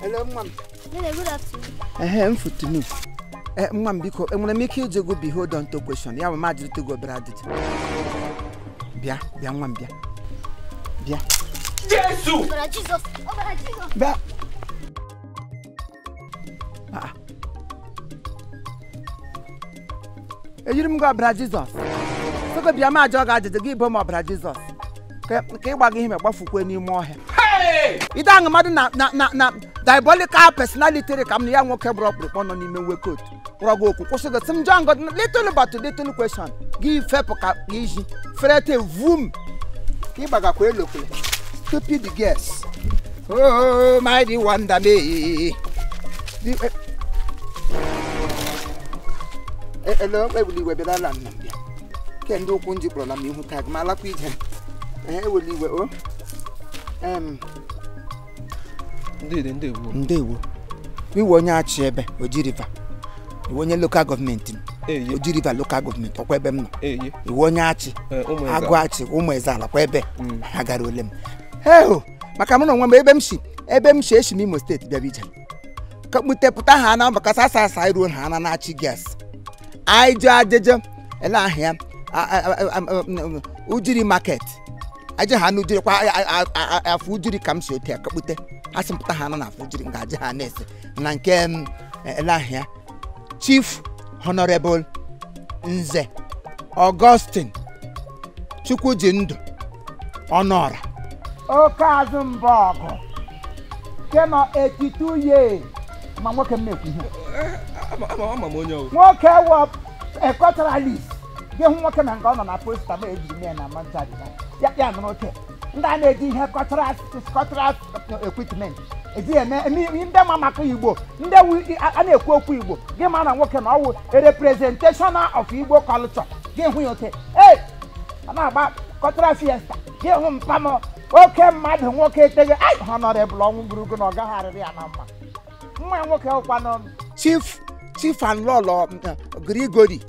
Hello, mma m. Nene, good afternoon. Ehe, m futunu. Eh, nwa m biko, enwere m ike iji gị behold on to question. Ya bụ m ajụrịta gị obere ajụjụ. Bịa, bịa nwa m bịa. Bịa. Jesu! Ọbara Jizọs! Ọbara Jizọs! Bịa. Ah, eyiri m gị ọbara jizọs sị gị bịa m ajụọ gị ajụjụ gị bụ m ọbara jizọs ka ka ị gbaga ihe ma gbafukwe n'ime ọhịa ị de-ahụ mmadụ na na na na diabolical personality dị ka m na ya nwoke gbara ọkpụrụkpụ nọ n'ime uwe coat kpọrọ gị okwu kwụsị gị sị m jụọ gị little but little question gị fepụ ka ka iji ferete vum ka ị gbagakwa elokwele stupid girls Oh, mighty wonder me. Eh, eh, hello, ewuli iwe bịara ala nna bịa. Ke ndị ụkwụ ndị kpọrọla m ihu tag ma alakwa ije. Eh, ewuli iwe o. Oh. Ndede ndewo. Ndewo. Ị wụ onye Achi ebe Oji River. Ị wụ onye lokal gọọmenti m. Oji River lokal gọọmenti ọkwa ebe m nọ. Ị wụ onye Achi. Agụ Achi ụmụ eze ala kwa ebe. Ha gara ole m. Heo! maka mụ na onwe m ebe m shi ebe m shi eshi m imo state bịara ije ka kputepụta ha na maka sasa asa iruo ha na na-achị girls anyị jee ajeje ele ahịa ujiri market aje ha n'ujiri kwa afọ ujiri ka m si otu ya kakpute ha sị mpụta ha nọ na afọ ujiri nga aje ha na-ese na nke m ele ahịa chief honorable nze augustine chukwujindụ ọnụọra oke azụ mba ọgụ kema 82 years ma nwoke m na-ekwu ihe nwoke wụ a culturalist gị hụ nwoke na nke ọ nọ na posta ma ejiri mee na manchari ya nụrụ oke ndị a na-eji ihe cultural cultural equipment eji eme eme ihe ndị ma maka igbo ndị wụ a na-ekwu okwu igbo gị ma na nwoke na ọ wụ representation of igbo culture gị hụ ya ote ee a na-agba cultural fiesta gị hụ mpa m oke mmadụ nwoke eteghị ai honorable ọnwụ burugo na ọ gaghị arịrị ya na mma nwa ya nwoke ọkwanụ chief chief and lọlọ Grigori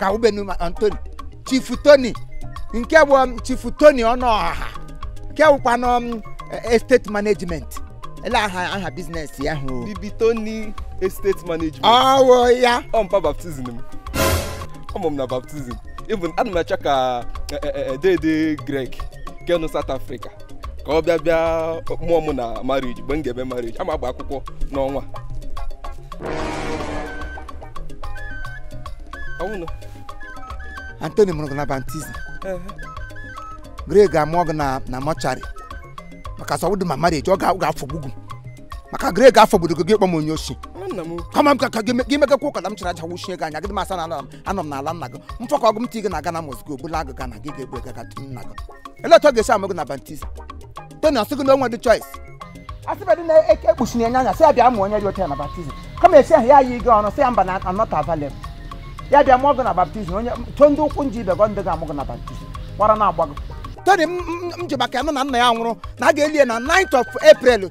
ka ubenu ma anthony chief tony nke bụ um, chief tony ọnụọha nke wụkwanụ um, estate management ele aha aha business ya wụ bibi tony estate management ọ wụ ya wụ mpa baptism m ọ mụ m na baptism even ana m achọ ka eh, eh, eh, dede greg ke nọ south africa ka ọ bịa bịa mụọ m na marriage mgbe m ga-eme marriage ama agba akwụkwọ n'ọnwa ọ wụnụ Anthony mụrụ gị na baptism greg ga-amụọ gị na na mortuary maka a sị ọ wụdị ma marriage ọ ga- ọ ga-afọgbu gị maka greg afọgbudo gị gị kpọ m onye osi nwanna m kama m ka ka gị me- gị mekakwa ụka na m chara aja wụchie gị anya gị dị m asa na ala m anọ m n'ala nna gị m fọkaa gị m tii gị na Ghana must go bulaa gị Ghana gị ga-egbu ega gatu nna gị elee otu ọ ga-esi amụ gị na baptize tony ọ sị gị na o nwedị choice a sịbedị na e kekpuchiri ya anya sị ya bịa mụ onye dị ọcha na baptism kama esi ahụ ya yi gị ọnụ sị ya mba na I'm not available ya bịa mụọ gị na baptism onye chọọ ndị ụkwụ nji ibe gị ndị ga-amụ gị na baptism ọ wụ ara na-agba gị tony m m- m ji maka ya nụ na nna ya nwụrụ na a ga-eli ya na 9th of april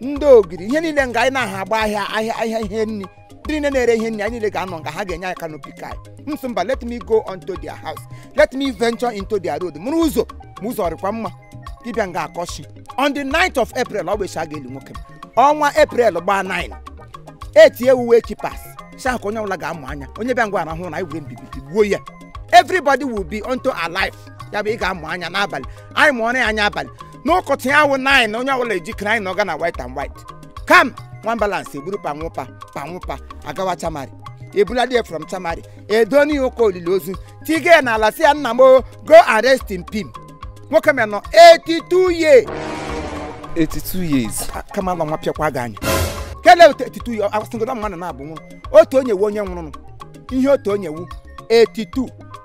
ndị ogiri ihe niile nga anyị na-aha agba ahịa ahịa ahịa ihe nri ndị niile na-ere ihe nri anyị niile ga-anọ nga ha ga-enye anyị canopy ka m sị mba let me go onto their house let me venture into their road mụrụ ụzọ ma ụzọ rịkwa mma dibịa nga akọchi on the 9th of april ọ bụ echi a ga-eli nwoke ọnwa april gbaa 9 etinye uwe chipas sha ka onye ọbụla ga-amụ anya onye bịa nga rahụ na anyị were mbibi tigbuo ya everybody will be unto alive ya bụ ị ga-amụ anya n'abalị anyị mụọrọ ya anya abalị n'ụtụtụ ya wụ nine onye ọbụla ejikere anyị na ọga na white and white kam nwa balance eburu panwụpa panwụpa agawa chamari ebuladị ya from chamari edooni ụka olili ozu tiga ya n'ala sị ya nna m o, go and rest in pim nwoke m nọ 82 years 82 years Kamalụ nwa pịakwa gị anya kele otu 82 years asịgodo mmadụ na-abụ nwụrụ otu onye wu onye nwụrụ ihe otu onye wu 82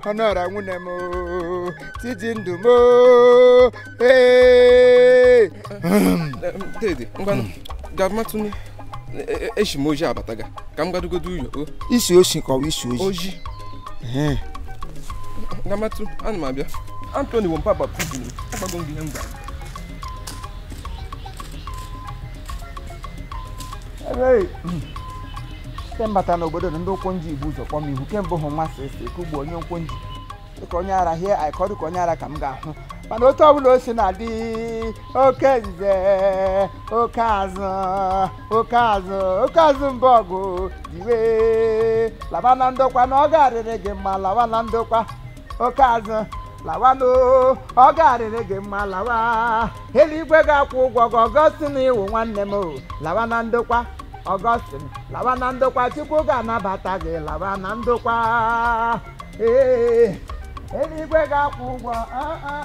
ọnọra nwunye m tiji ndụ m ee dede ngwanụ gamatụnụ eshi m ojii abata ga ka m gadugodo ụyọ isi oshi ka ọ bụ isi oji gamatụ ana m abịa Anthony wompa baptism agbago m gị ihe m gwara Hey. ke m bata n'obodo na ndị ụkwụ nji bu ụzọ kpọ m ihu kemgbe ahụ nwa si esi ka ugbo onye ụkwụ nji dịka onye ara hie aikọ dịka onye ara ka m ga-ahụ mana otu ọbụla o si na-adị oke nze oke azụ oke azụ oke azụ mba ọgụ diwe laba na ndokwa na ọ ga-arịrị gị mma lawa na ndokwa oke azụ lawa n'o ọ ga-arịrị gị mma lawa eluigwe ga-akwụ ụgwọ gị Augustine ị wụ nwanne m o lawa na ndokwa Augustine lawa na ndokwa chukwu ga-anabata gị lawa na ndokwa ee eluigwe ga-akwụ ụgwọ ah, ah.